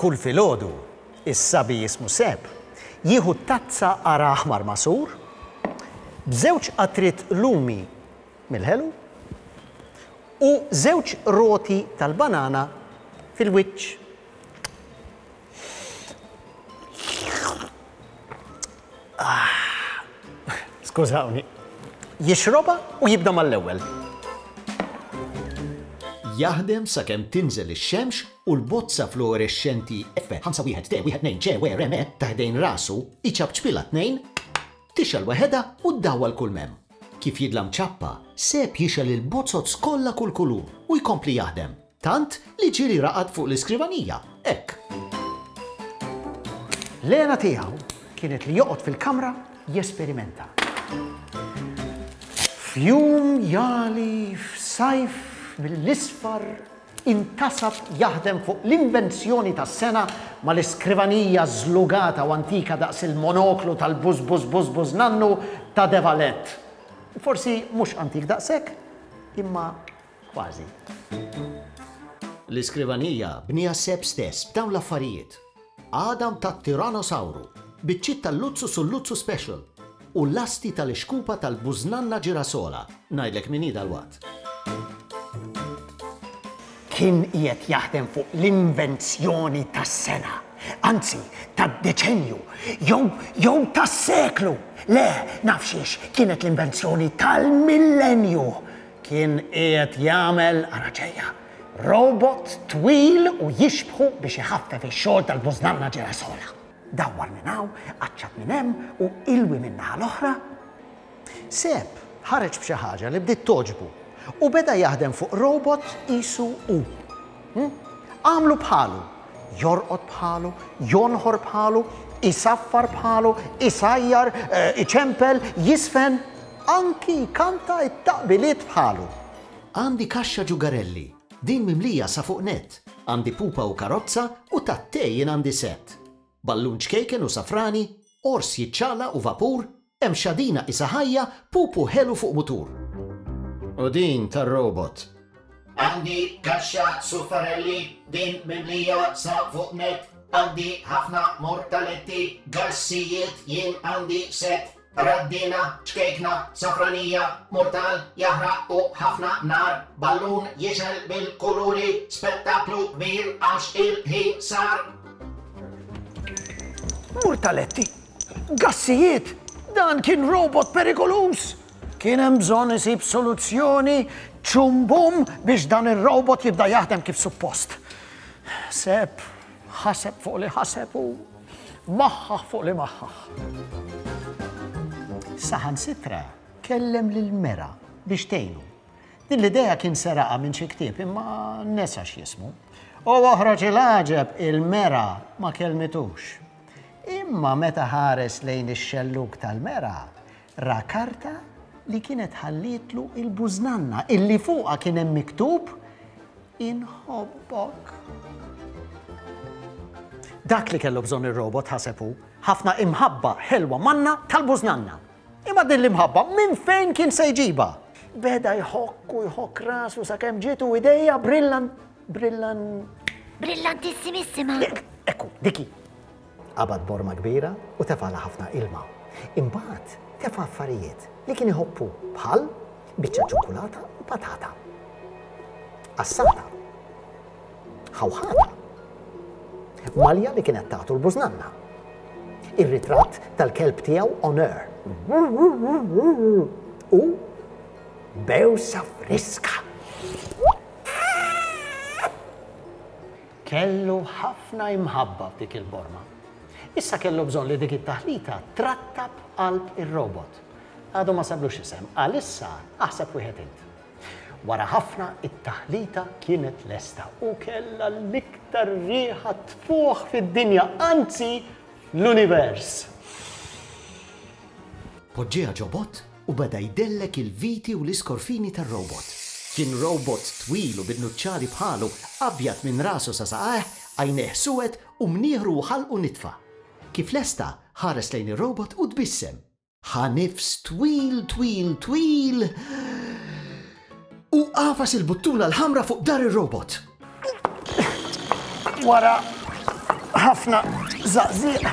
Kull filgħodu, is-sabi jismu Seb jieħu tazza qara aħmar magħsur b'żewġ qatriet lumi mill-ħelu, u żewġ roti tal-banana fil-wiċċ. Skużawni. Jixrobha u jibda mal-ewwel. Jaħdem sakemm tinżel ix-xemx u l-bozza fluorexxenti F5 1 T1 2 C W R M E ta' ħdejn rasu, iċapċpilha tnejn, Tixgħel weħedha u ddawwal kull m'hemm. Kif jidhla mċappa, Seb jixgħel il-bozoz kollha kull kulur u jkompli jaħdem, tant li ġieli raqad fuq l-iskrivanija, hekk. L-għena tiegħu kienet li joqgħod fil-kamra jesperimenta. F'jum jagħli f'sajf mill-isfar intasab jaħdem fuq l-invenzjoni tas-sena mal-iskrivanija żlugata u antika daqs il-monoklu tal-buż-buż-buż-buż-nannu ta' De Valette. Forsi mhux antik daqshekk, imma kważi. L-iskrivanija bnieha Sepp stess b'dawn l-affarijiet. għadam tat-Tyrannosawru, biċċiet tal-Luxus u l-Luxus Special, u lasti tal-ixkupa tal-bużnanna ġirasola, ngħidlek min hi dalwaqt. Kien qiegħed jaħdem fuq l-invenzjoni tas-sena, anzi tad-deċennju, jew, jew tas-seklu! Le, naf xiex, kienet l-invenzjoni tal-millennju! Kien qiegħed jagħmel, ara ġejja, Robot twil u jixbħu biex iħaffef ix-xogħol tal-bużnanna ġirasola. Dawwar minn hawn, aċċat minn hemm u ilwi min-naħa l-oħra. Seb ħareġ b'xi ħaġa li bdiet togħġbu u beda jaħdem fuq robot qisu hu. Għamlu bħalu, jorqod bħalu, jonħor bħalu, isaffar bħalu, isajjar, iċempel, jiżfen, anki jkanta t-taqbiliet bħalu. Għandi kaxxa ġugarelli, din mimlija sa fuq nett, għandi pupa u karozza u tat-te jien għandi sett. Ballun ċkejken u safrani, ors jiċċaqlaq u vapur, hemm xadina qisha ħajja, pupu ħelu fuq mutur. U din tar-robot. Għandi kaxxa suffarelli, din mimlija sa fuq nett, għandi ħafna mortaletti, gassijiet jien għandi sett. Raddina, ċkejkna, safranija, murtal, jaħraq u ħafna nar, ballun jixgħel bil-kuluri, spettaklu kbir għax il-ħin sar. Murtaletti, gassijiet, dan kien robot perikoluż! Kien hemm bżonn isib soluzzjoni ċumbum biex dan ir-robot jibda jaħdem kif suppost. Sepp, Ħaseb fuq li ħaseb u maħħaħ fuq li maħħaħ. Saħansitra kellem lil Mera biex tgħinu. Din l-idea kien seraqa minn xi ktieb imma nesa x'jismu. U oħroġ il-għaġeb il-Mera ma kelmitux. Imma meta ħares lejn ix-xelluk tal-Mera, ra karta li kienet ħallitlu il-bużnanna illi fuqha kien hemm miktub Inħobbok. Dak li kellu bżonn ir-robot ħaseb hu, ħafna imħabba ħelwa manna tal-bużnanna. Imma din l-imħabba minn fejn kien se jġibha? Beda jħokk u jħokk rasu sakemm ġietu idejja brillan brillan Brillantissimissima. Ekku, diki. Qabad borma kbira u tefagħlha ħafna ilma. Imbagħad tefa' affarijiet li kien iħobbu bħal biċċa ċokkulata u patata. Qassata. Ħawħata. Malja li kienet tagħtu l-bużnanna. Ir-ritratt tal-kelb tiegħu Honor. U bewsa friska. Kellu ħafna imħabba f'dik il-borma. Issa kellu bżonn li dik it-taħlita trattab qalb ir-robot. Għadu ma sablux isem, għalissa aħseb wieħed int. Wara ħafna it-taħlita kienet lesta u kellha l-iktar riħa tfuħ fid-dinja, anzi l-univers. Poġġieha ġo bott u beda jdellek il-viti u l-iskorfini tar-robot. Kien robot twil u bin-nuċċali bħalu, abjad minn rasu sa saqajh, għajnejh suwed u mnieħru u ħalqu nitfa. Kif lesta, ħares lejn ir-robot u tbissem. Ħa nifs twil twil twil. U għafas il-buttuna l-ħamra fuq dar ir-robot. Wara ħafna zaqziq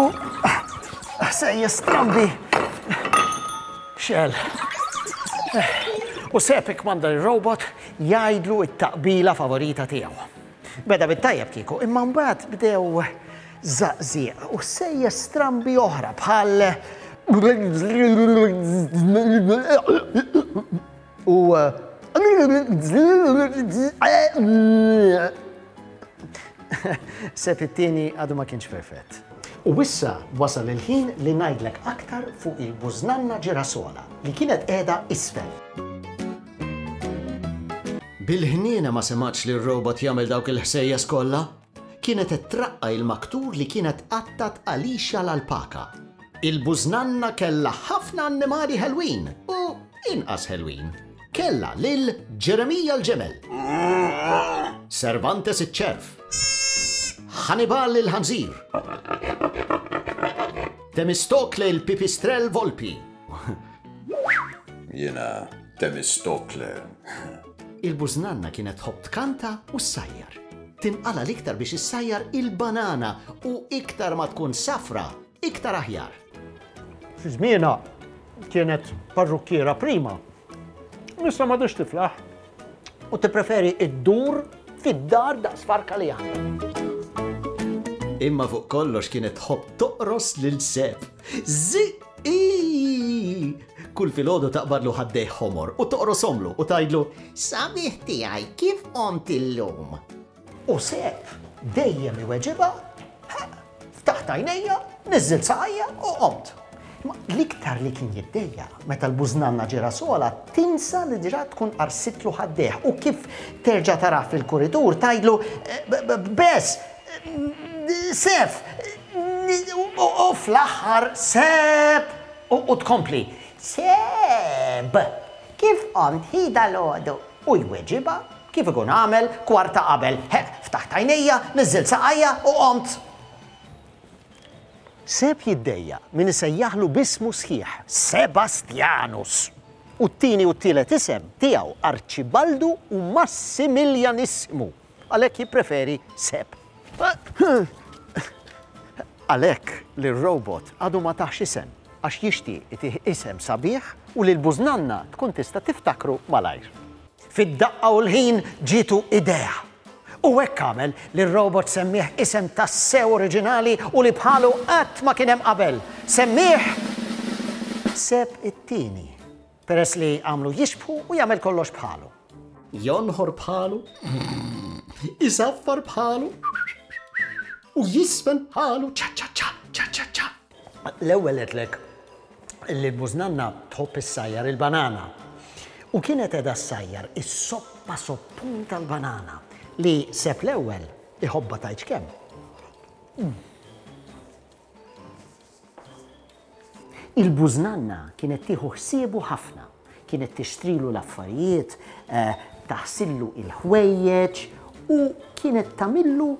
u ħsejjes strambi xel. U sepik manda il-robot jajdlu it-taqbila favorita tiegħu. Beda bit-tajjeb kieku, imma mbagħad bdew żaqżieq u ħsejjes strambi oħra bħal u Sepp it-Tieni għadu ma kienx perfett. U issa wasal il-ħin li ngħidlek aktar fuq il-bużnanna ġirasola li kienet qiegħda isfel. Bil-ħniena ma semgħetx lir-robot jagħmel dawk il-ħsejjes kollha. Kienet qed traqqa' il-maktur li kienet qattgħet għalixha l-alpaka. Il-bużnanna kellha ħafna annimali ħelwin u inqas ħelwin. Kellha lil Ġeremija l-ġemel. Cervantes iċ-ċerv. Ħanibal il-ħanżir. Temistokle il-pipistrell volpi. Jiena Temistokle. Il-bużnanna kienet tħobb tkanta u ssajjar. Tinqala l-iktar biex issajjar il-banana u iktar ma tkun safra, iktar aħjar. Fi żmienha kienet parrukkiera prima Issa ma tix tiflaħ. U tippreferi iddur fid-dar daqs farka li għandha. Imma fuq kollox kienet tħobb toqros lil Seb. Ziqi! Kull filgħodu taqbadlu ħaddej ħomor u toqrosomlu u tgħidlu Sabiħ tiegħi kif qomt illum? U Sepp dejjem iweġibha, Ha, ftaħt għajnejja, niżżilt saqajja u qomt. Imma l-iktar li kien jiddejjaq meta l-bużnanna Ġirasola tinsa li diġà tkun qarsitlu ħaddejh u kif terġa' tarah fil-kuritur tgħidlu, Bess! Seff! u fl-aħħar Sepp! u tkompli, Sepp! Kif qomt hi dalgħodu? u jweġibha, Kif ikun għamel kwarta qabel. Heq, ftaħt għajnejja, niżżilt saqajja u qomt. Seb jiddejjaq min isejjaħlu b'ismu sħiħ, Sebastjanus, u t-tieni u t-tielet isem tiegħu Arċibaldu u Massimiljanissmu, għalhekk jippreferi Seb. Għalhekk li r-robot għadu ma tahx isem għax jixtieq itih isem sabiħ u li l-bużnanna tkun tista' tiftakru malajr. Fid-daqqa u l-ħin ġietu idea. U hekk għamel li r-robot semmieh isem tassew oriġinali u li bħalu qatt ma kien hemm qabel. Semmieh Seb it-Tieni, peress li għamlu jixbħu u jagħmel kollox bħalu. Jonħor bħalu, isaffar bħalu u jisfen bħalu. Ċa ċa ċa, ċa ċa ċa. L-ewwel għedtlek li l-mużnanna tħobb issajjar il-banana u kienet qiegħda ssajjar is-soppa soppun tal-banana li Sepp l-Ewwel iħobbha tgħidx kemm. Il-bużnanna kienet tieħu ħsiebu ħafna. Kienet tixtrilu l-affarijiet, taħsillu l-ħwejjeġ u kienet tagħmillu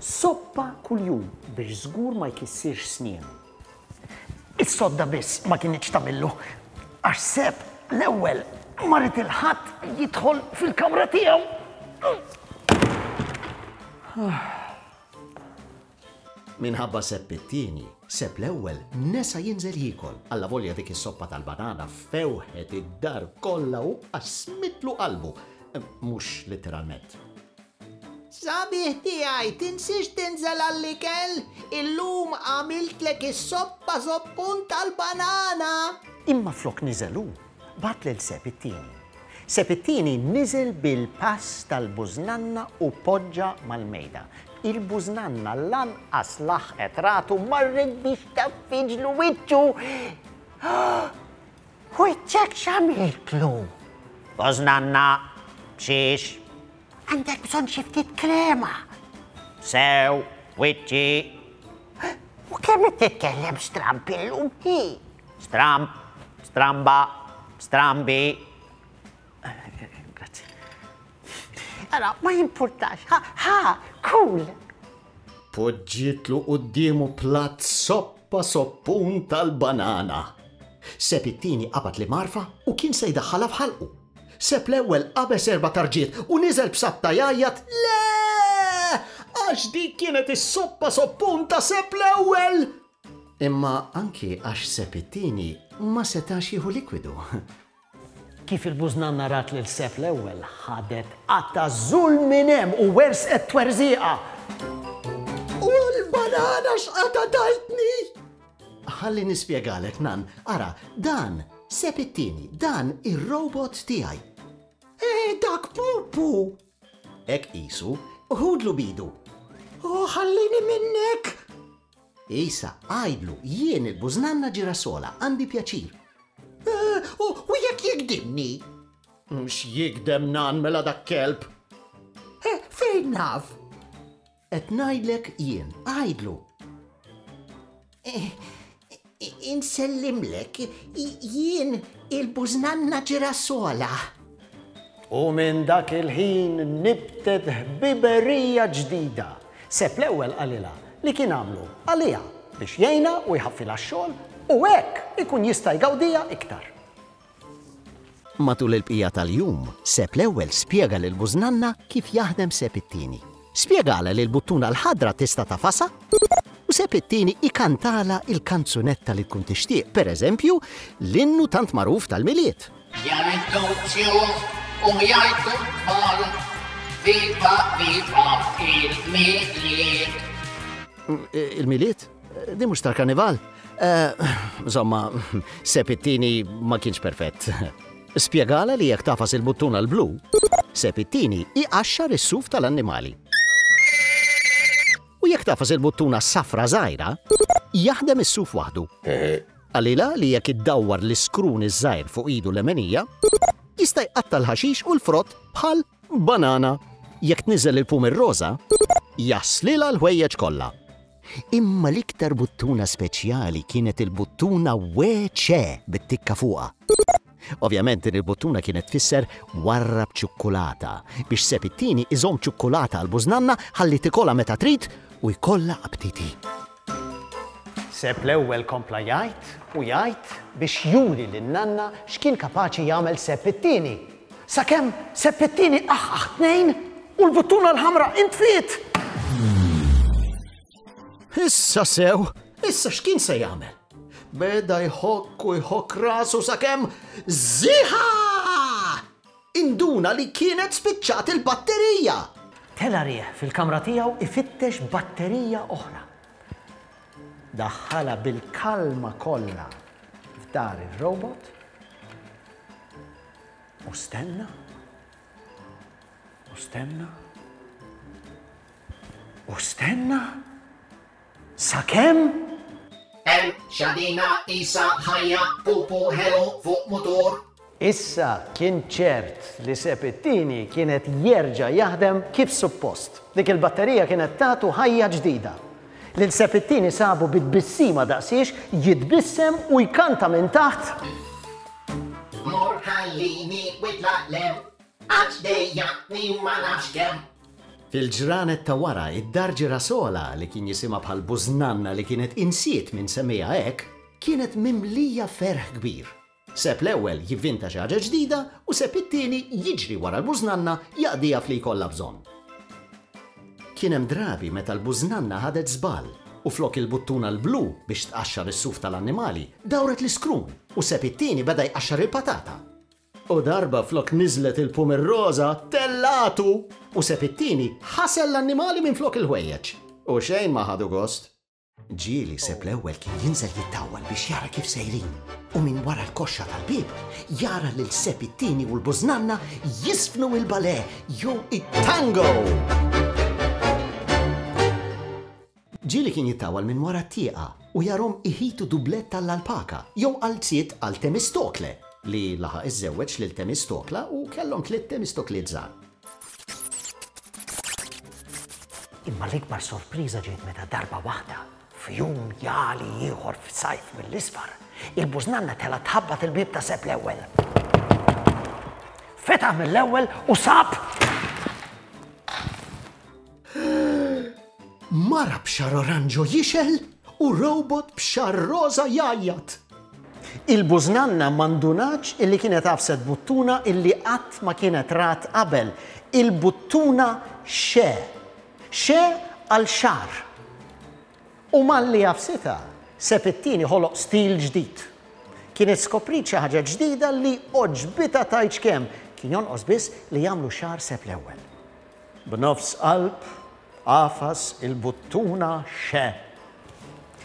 soppa kuljum biex żgur ma jkissirx snienu. Is-sodda biss ma kinitx tagħmillu għax Sepp l-ewwel ma ried il-ħadd jidħol fil-kamra tiegħu. Minħabba Sepp it-Tieni, Sepp l-Ewwel nesa jinżel jiekol, allavolja dik is-soppa tal-banana fewħet id-dar kollha u qasmitlu qalbu, mhux litteralment. Sabiħ tiegħi, tinsiex tinżel għall-ikel, illum għamiltlek is-soppa żoppun tal-banana! Imma flok niżel hu, Bagħat lil Seb it-Tieni. Seb it-Tieni niżel bil-pass tal-bużnanna u poġġa mal-mejda. Il-bużnanna lanqas laħqet ratu marret biex taffiġlu wiċċu. Wiċċek x'għamiltlu? Bużnanna, b'xiex? Għandek bżonn xi ftit krema. Sew, wiċċi. U kemm qed titkellem stramb illum hi? Stramb, stramba, strambi. Grazzi. Ara, ma jimpurtax. Ha, ha, cool. Poġġietlu quddiemu platt soppa soppun tal-banana. Seb it-tieni qabad l-imgħarfa u kien se jdaħħalha f'ħalqu. Seb l-ewwel qabeż erba' tarġiet u niżel b'sabta jgħajjat le! Għax dik kienet is-soppa soppun ta' Seb l-ewwel! Imma anki għax Sepp it-Tieni ma setax jieħu likwidu. Kif il-bużnanna rat lil Sepp l-Ewwel, ħadet qatta' żul minn hemm u werżqet twerżiqa. U l-banana x'qatagħtni! Ħalli nispjegalek, Nann. Ara, dan, Sepp it-Tieni, dan ir-robot tiegħi. Eh, dak Pupu! Hekk qisu. Ħudlu b'idu. Oh, ħallini minnek! Issa, għidlu, jien il-bużnanna ġirasola, għandi pjaċir. Eh, u jekk jikdimni? Mhux jikdem nan mela dak kelb. Eh, fejn naf? Qed ngħidlek jien, għidlu. Eh, Insellimlek, jien il-bużnanna Ġirasola. U minn dak il-ħin nibtet ħbiberija ġdida. Sepp l-ewwel qalilha li kien għamlu għaliha biex jgħinha u jħaffilha x-xogħol u hekk ikun jista' jgawdiha iktar. Matul il-bqija tal-jum, Sepp l-Ewwel spjega lil Bużnanna kif jaħdem Sepp it-Tieni. Spjegalha li l-buttuna l-ħadra tista' tafasha u Sepp it-Tieni ikantalha l-kanzunetta li tkun tixtieq, pereżempju, l-innu tant magħruf tal-Milied. Jgħidu t-tjur u jgħidu t-tfal, Viva, viva il-Milied! Il-Milied? Di mhux tal-karnival? Insomma, eh, Sepp it-tieni ma kienx perfett. Spjegala li jekk tafas il-buttuna l-blu, Sepp it-tieni iqaxxar is-suf tal-annimali. U jekk tafas il-buttuna safra żgħira, jaħdem is-suf waħdu. Għalila li jekk iddawwar l-iskrun iż-żgħir fuq idu l-emenija, jista' jqatta l-ħaxix u l-frott bħal Banana, jekk tniżżel il-pum ir-roża, jagħżlilha l-ħwejjeġ kollha. Imma l-iktar buttuna speċjali kienet il-buttuna WC bit-tikka fuqha. Ovvjament din il-buttuna kienet tfisser warrab ċukkulata biex Sepp it-Tieni iżomm ċukkulata għall-bużnanna ħalli tikolha meta trid u jkollha aptiti. Sepp l-ewwel kompla jgħid u jgħid biex juri lin-nanna x'kien kapaċi jagħmel Sepp it-tieni. Sakemm Sepp it-tieni qaħqaħ tnejn u l-buttuna l-ħamra intfiet! Issa sew, issa x'kien se jagħmel? Beda jħokk u jħokk rasu sakemm żiħa! Induna li kienet spiċċat il-batterija! Tela' riħ fil-kamra tiegħu ifittex batterija oħra. Daħħalha bil-kalma kollha f'dar ir-robot u stenna u stenna u stenna. Sakemm? Qerb, xadina, qisha, ħajja, pupu, ħelu, fuq mutur. Issa kien ċert li Sepp it-Tieni kien qed jerġa' jaħdem kif suppost. Dik il-batterija kienet tagħtu ħajja ġdida. Lil Sepp it-Tieni sabu bi tbissima daqsiex jitbissem u jkanta minn taħt. Mur ħallini u itlaq 'l hemm. Għax dejjaqtni u ma nafx kemm. Fil-ġranet ta' wara, id-dar Ġirasola, li kien jisimha bħal bużnanna li kienet insiet min semmiha hekk, kienet mimlija ferħ kbir. Seb l-ewwel jivvinta xi ħaġa ġdida u seb it-tieni jiġri wara l-bużnanna jaqdiha f'li jkollha bżonn. Kien hemm drabi meta l-bużnanna ħadet żball u flok il-buttuna l-blu biex tqaxxar is-suf tal-annimali, dawret l-iskrun u seb it-tieni beda jqaxxar il-patata. U darba flok niżlet il-pum ir-roża, tellgħatu! U seb it-tieni ħasel l-annimali minflok il-ħwejjeġ. U xejn ma ħadu gost. Ġieli seb l-ewwel kien jinżel jittawwal biex jara kif sejrin, u minn wara l-koxxa tal-bieb jara lil seb it-tieni u l-bużnanna jiżfnu il-balè jew it-tango! Ġieli kien jittawal minn wara t-tieqa u jarahom iħitu dublett għall-alpaka jew qalziet għal Temistokle, li laħaq iżżewweġ lil Temistokla u kellhom tliet Temistokliet żgħar. Imma l-ikbar sorpriża ġiet meta darba waħda, f'jum jali ieħor f'sajf mill-isfar, il-bużnanna telgħet tħabbat il-bieb ta' Sepp l-Ewwel. Fetaħ mill-ewwel u sab Mara b'xagħar oranġo jixgħel u robot b'xagħar roża jgħajjat. Il-bużnanna ma ndunatx illi kienet għafset buttuna illi qatt ma kienet rat qabel. Il-buttuna xe. Xe għal xagħar. U malli għafsitha, Sepp it-Tieni ħoloq stil ġdid. Kienet skopriet xi ħaġa ġdida li għoġbitha tgħidx kemm, kien jonqos biss li jagħmlu xagħar Sepp l-Ewwel. B'nofs qalb, għafas, il-buttuna xe.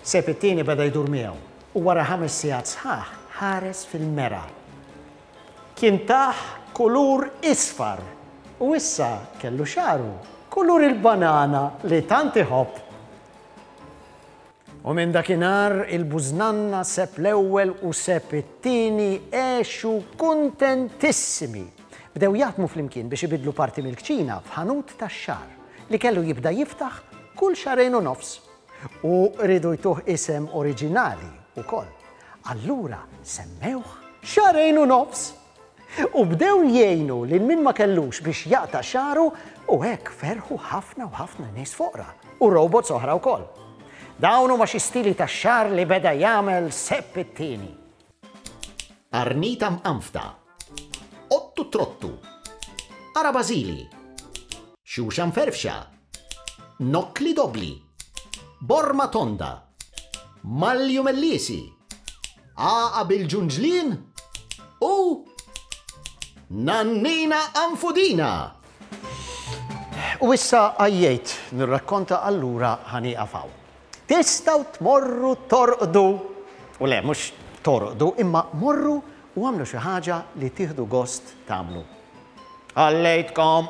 Sejf it-tieni beda jdur miegħu u wara ħames sigħat sħaħ ħares fil-mera. Kien tah kulur isfar u issa kellu xagħru kulur il-banana li tant iħobb. U minn dakinhar il-bużnanna Sepp l-Ewwel u Sepp it-Tieni għexu kuntentissimi. Bdew jaħdmu flimkien biex ibiddlu parti mill-kċina f'ħanut tax-xagħar li kellu jibda jiftaħ kull xahrejn u nofs. U riedu jtuh isem oriġinali wkoll. Allura semmewh Xahrejn u Nofs! U bdew jgħinu lil min ma kellux biex jaqta' xagħru u hekk ferħu ħafna u ħafna nies foqra u robots oħra wkoll. Dawn huma xi stili tax-xagħar li beda jagħmel Sepp it-Tieni. Qarnita mqanfda. Qottu trottu. Qara bażili. Xuxa mferfxa. Nokkli dobbli. Borma tonda. Malju melliesi. Għaqa bil-ġunġlien u Nannina Anfudina. U issa għajjejt nirrakkonta allura ħaniqa faw. Tistaw tmorru torqdu, u le mhux torqdu, imma morru u għamlu xi ħaġa li tieħdu gost tagħmlu. Għallejtkom!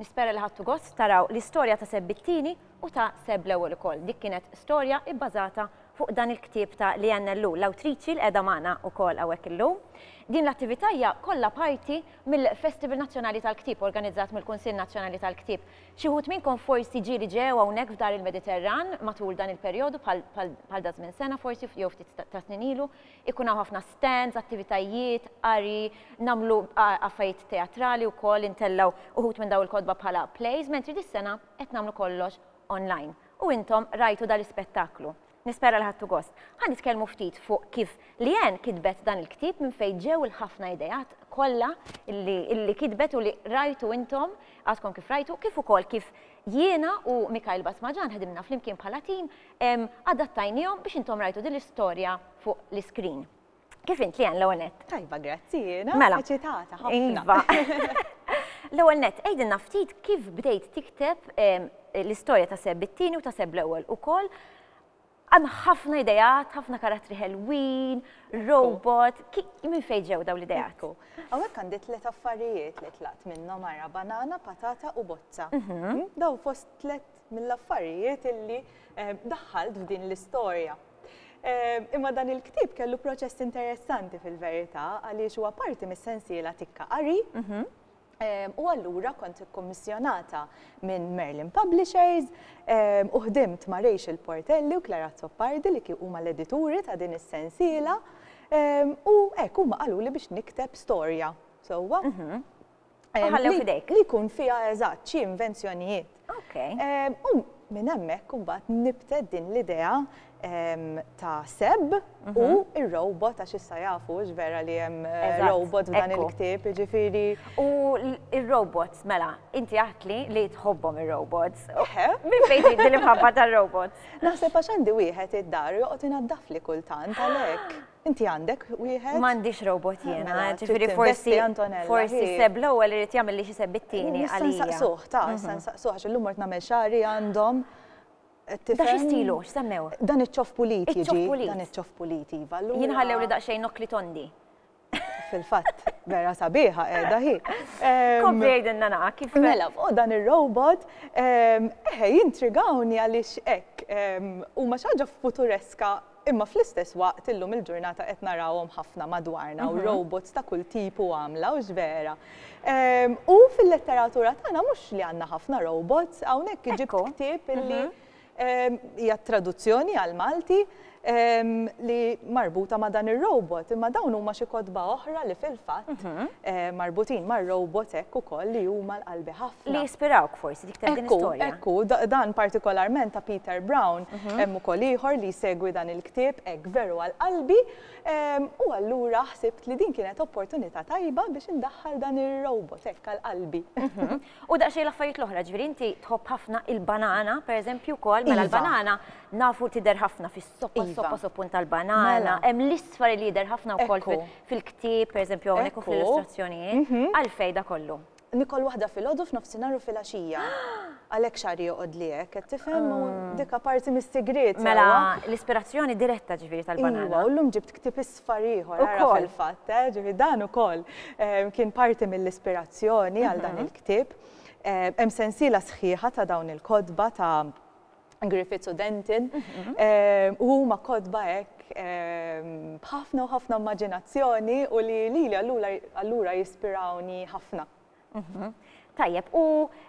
Nispera li ħadtu gost taraw l-istorja ta' Seb it-Tieni u ta' Seb l-Ewwel ukoll. Dik kienet storja bbażata fuq dan il-ktieb ta' Leanne Ellul, l-awtriċi li qiegħda magħna wkoll hawnhekk illum. Din l-attività hija kollha parti mill-Festival Nazzjonali tal-Ktieb organizzat mill-Kunsill Nazzjonali tal-Ktieb. Xi wħud minnkom forsi ġieli ġew hawnhekk f'Dar il-Mediterran matul dan il-perjodu bħal daż-żmien sena forsi jew ftit ta' snin ilu. Ikun hawn ħafna stands, attivitajiet, qari, nagħmlu affarijiet teatrali wkoll, intellgħu uħud minn dawn il-kotba bħala plays, mentri dis-sena qed nagħmlu kollox online. U intom rajtu dan l-ispettaklu. Nispera li ħadtu gost. Ħa nitkellmu ftit fuq kif Leanne kitbet dan il-ktieb minn fejn ġew il-ħafna ideat kollha li kitbet u li rajtu intom, għadkom kif rajtu, kif ukoll kif jiena u Mikhail Basmajan ħdimna flimkien bħala tim adattajnihom biex intom rajtu din l-istorja fuq l-iskrin. Kif int, Lian, l-ewwel nett? Tajba, grazzi, jiena. Mela. Eċitata, ħafna. Iva. L-ewwel nett, għidilna ftit kif bdejt tikteb l-istorja ta' Seb it-tieni u ta' Seb l-ewwel ukoll. Hemm ħafna ideat, ħafna karattri ħelwin, robot, minn fejn ġew dawn l-ideat? Ekku. Hawnhekk għandi tliet affarijiet li tlaqt minnhom ara banana, patata u bozza. Mhm. Dawn fost tliet mill-affarijiet illi daħħalt f'din l-istorja. Imma dan il-ktieb kellu proċess interessanti fil-verità għaliex huwa parti mis-sensiela tikka qari mhm. u allura kont ikkommissjonata minn Merlin Publishers u ħdimt ma' Rachel Portelli u Clara Zoppardi li huma l-edituri ta' din is-sensiela u hekk huma qalu li biex nikteb storja. Sewwa? Mhm. Ħallew fidejk. Li jkun fiha eżatt xi invenzjonijiet. Ok. U minn hemmhekk imbagħad nibtet din l-idea ta' Seb u r-robot għax issa jafu hux vera li hemm robot f'dan il-ktieb, jiġifieri. U r-robots, mela, inti għedtli li tħobbhom ir-robots. Eħe. Minn fejn ġiet din l-imħabba tar-robots? Naħseb għax għandi wieħed id-dar u joqgħod inaddafli kultant għalhekk. Inti għandek wieħed? M'għandix robot jiena, mela, mela, ġifieri forsi forsi seb l-ewwel irid jagħmel li xi seb it-tieni għalija. Issa nsaqsuh, ta, issa mhm. nsaqsuh għax illum mort nagħmel xagħri għandhom Da xistilu, x'semmew? Dan iċ-ċof pulit jiġi. Dan iċ-ċof pulit, iva. Jien ħallew li daqsxejn nokli tondi. Fil-fatt, vera sabiħa qiegħda hi. Kompli għidinna naqa kif. Mela, fuq dan ir-robot, eħe jintrigawni għaliex hekk huma xi ħaġa futureska Imma fl-istess waqt illum il-ġurnata qed narawhom ħafna madwarna u robots ta' kull tip u għamla, hux vera? U fil-letteratura tagħna mhux li għandna ħafna robots, hawnhekk ġibt ktieb li hija traduzzjoni għall-Malti li marbuta ma' dan ir-robot, imma dawn huma xi kotba oħra li fil-fatt marbutin mar-robots hekk ukoll li huma l-qalbi ħafna. li jispirawk forsi dik ta' din l-istorja. Ekku, ekku, dan partikolarment ta' Peter Brown, mhm. hemm ukoll ieħor li jsegwi dan il-ktieb hekk veru għal qalbi, ehm, u allura ħsibt li din kienet opportunità tajba biex indaħħal dan ir-robot hekk għal qalbi. Mhm. U daqsxejn l-affarijiet l-oħra, ġifieri inti tħobb ħafna il-banana, pereżempju wkoll, mela iva. l-banana nafu tidher ħafna fis-soppa, iva. soppa soppun tal-banana, mela. hemm l-isfar li jidher ħafna wkoll fil-ktieb, pereżempju hawnhekk fuq l-illustrazzjonijiet, mhm. għalfejn da kollu. Nikol waħda filgħodu, f'nofsinhar u filgħaxija. Għalhekk xagħri joqgħodli hekk, qed tifhem? U dik apparti mis-sigriet, sewwa. Mela, l-ispirazzjoni diretta ġifieri tal-banana. Iva, u llum ġibt ktieb isfar ieħor, ara fil-fatt, eh, ġifieri dan ukoll kien parti mill-ispirazzjoni għal dan il-ktieb. Hemm sensiela sħiħa ta' dawn il-kotba ta' Griffiths u Denton, u huma kotba hekk b'ħafna u ħafna immaġinazzjoni u li lili allura jispirawni ħafna. Tajjeb, u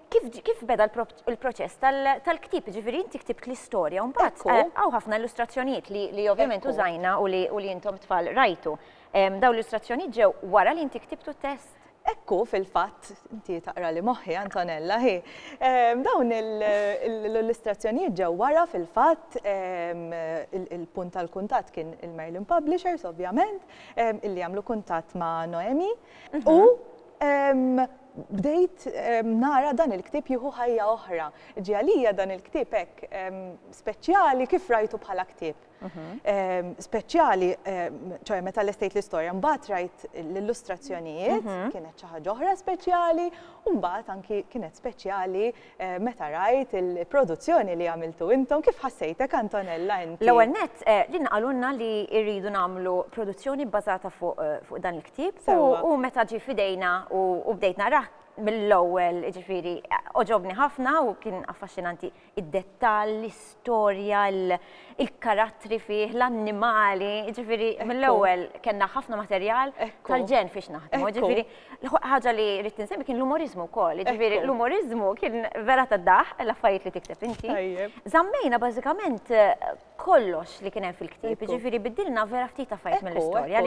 kif beda l-proċess tal-ktib, ġifiri inti ktibt l-istorja, un bat eh, għaw ħafna illustrazzjonijiet li ovvjament użajna u li jintom tfal rajtu. Daw l-illustrazzjonijiet ġew wara li inti ktibtu test? Hekk hu fil-fatt, inti taqrali moħħi Antonella, hi. Dawn l-illustrazzjonijiet ġew wara fil-fatt, il-punt tal-kuntatt kien il-Merlin Publishers ovvjament, illi għamlu kuntatt ma' Noemi, u bdejt nara dan il-ktieb jieħu ħajja oħra. Ġie għalija dan il-ktieb hekk speċjali kif rajtu bħala ktieb. Ehm, speċjali, ehm, ċoħe meta l-estate l-istoria, mbaħt rajt l-illustrazzjonijiet, mhm. kienet ċaħġa oħra speċjali, u mbaħt anki kienet speċjali eh, meta rajt il-produzzjoni li għamiltu intom, kif ħassejtek Antonella inti? L-ewel net, eh, din għalunna li irridu namlu produzzjoni bazata fuq eh, dan il-ktib, u meta ġi fidejna u bdejtna raħ mill-ewwel ġifiri oġobni ħafna u kien affaxxinanti. id-dettall, l-istorja, il-karattri fih, l-annimali, ġifiri, mill-ewwel kellna ħafna materjal tal-ġen fiex naħdmu, ġifiri, ħaġa li rrid nsemmi kien l-umorizmu wkoll, ġifiri, l-umorizmu kien vera ta' daħ, l-affarijiet li tikteb inti. Zammejna bażikament kollox li kien hemm fil-ktieb, ġifiri, biddilna vera ftit affarijiet mill-istorja,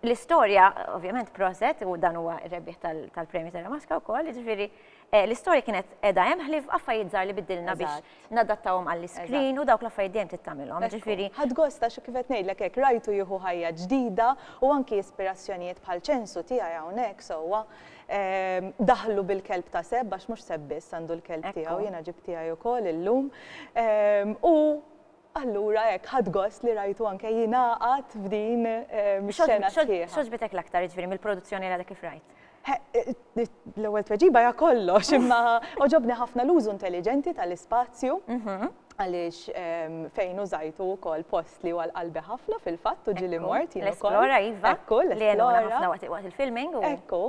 l-istorja, ovvjament, proset, u dan huwa r-rebbieħ tal-Premju Terra Maska wkoll, ġifiri, L-istorja kienet qiegħda hemm ħlief b'affarijiet żgħar li biddilna biex nadattawhom għall-iskrin u dawk l-affarijiet dejjem trid tagħmilhom, jiġifieri. Ħadt gost għax kif qed ngħidlek hekk rajtu jieħu ħajja ġdida u anki ispirazzjonijiet bħal ċensu tiegħi hawnhekk sewwa daħlu bil-kelb ta' Seb għax mhux Seb biss għandu l-kelb tiegħu, jiena ġibt tiegħi wkoll illum u. Allura hekk, ħadt gost li rajtu anke jingħaqad f'din ix-xena sħiħa. X'għoġbitek l-aktar jiġifieri mill-produzzjoni li għadek kif rajt? L-ewwel tweġiba hija kollox, imma għoġobni ħafna l-użu intelliġenti tal-ispazju għaliex fejn użajtu wkoll post li huwa l-qalbi ħafna fil-fatt u ġieli mort jien ukoll. L-esplora iva. Ekku, l-esplora. Li għenuna ħafna waqt il-filming. Ekku.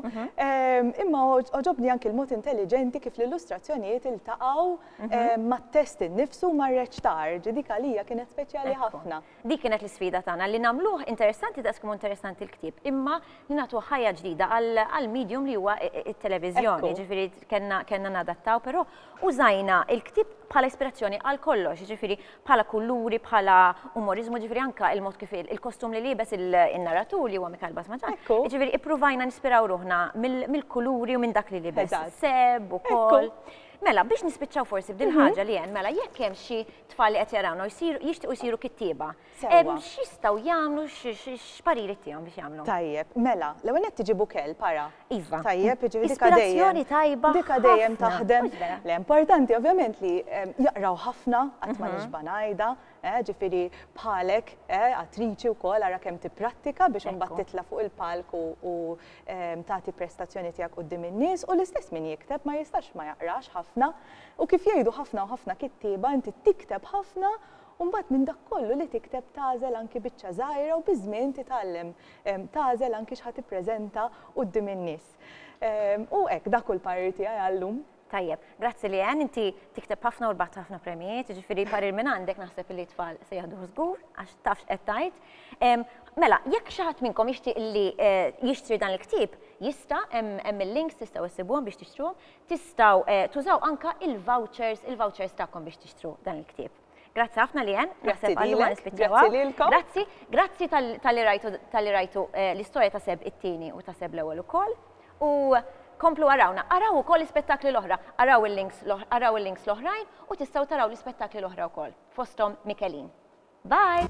Imma għoġobni anke l-mod intelliġenti kif l-illustrazzjonijiet iltaqgħu Mhm. Ma t-test innifsu ma rreċ tarġ, dik għalija kienet speċjali ħafna. Dik kienet l-sfida tagħna li nagħmluh interessanti daqs kemm interessanti l-ktieb, imma li nagħtu ħajja ġdida għal medium li huwa it-televiżjoni, ġifieri kellna nadattaw, però użajna il-ktieb bħala ispirazzjoni għal kollox, ġifiri bħala kulluri, bħala umorizmu, ġifiri anka il-mod kif il-kostum li libes il-narratur li huwa Mikael Basmaġan. Ġifiri ippruvajna nispiraw ruħna mill-kuluri u minn dak li libes. Seb u kol. Mela, biex nispiċċaw forsi b'din ħaġa li hemm, mela jekk hemm xi tfal li qed jarawna jixtiequ jsiru kittieba. X'jistgħu jagħmlu x'pariri tiegħhom biex jagħmlu? Tajjeb, mela, l-ewwel qed tiġibu kell para. Iva. Tajjeb, jiġifieri dik dejjem. tajba. Dik dejjem taħdem. L-importanti ovvjament li jaqraw ħafna qatt ma nixba' ngħidha. Eh, ġifiri bħalek, eh, attriċi u kol, għara kem tipprattika biex unbat titla fuq il-palk u ehm, tati prestazzjoni tijak u d-dim il-nis u l-istess min jikteb ma jistax ma jaqrax ħafna u kif jgħidu ħafna u ħafna kittiba inti tikteb ħafna Umbat minn dak kollu li tikteb tażel anki biċċa żgħira u biż-żmien titgħallem ehm, tażel anki x'ħad tippreżenta quddiem in-nies. Ehm, u hekk dak kull parir tiegħi għallum. Tajjeb, grazzi Leanne, inti tikteb ħafna u rbaħt ħafna premjijiet, jiġifieri parir minn għandek naħseb li tfal se jaħduh żgur għax tafx qed tgħid. Mela, jekk xi ħadd minnkom jixtieq li eh, jixtri dan il-ktieb, jista' hemm il-links tistgħu issibuhom biex tixtruhom, tistgħu eh, tużaw anka il-vouchers, il-vouchers tagħkom biex tixtru dan il-ktieb. Grazzi ħafna li jen, naħseb għallu ma nispiċċawa. Grazzi, grazzi tal-li rajtu eh, l-istoria ta' seb it-tini u ta' seb l-ewel u koll. U komplu għarawna, għaraw u koll l-spettakli l-oħra, għaraw il-links l-oħrajn u tistaw taraw l-spettakli l-oħra u koll, fostom Mikelin. Bye!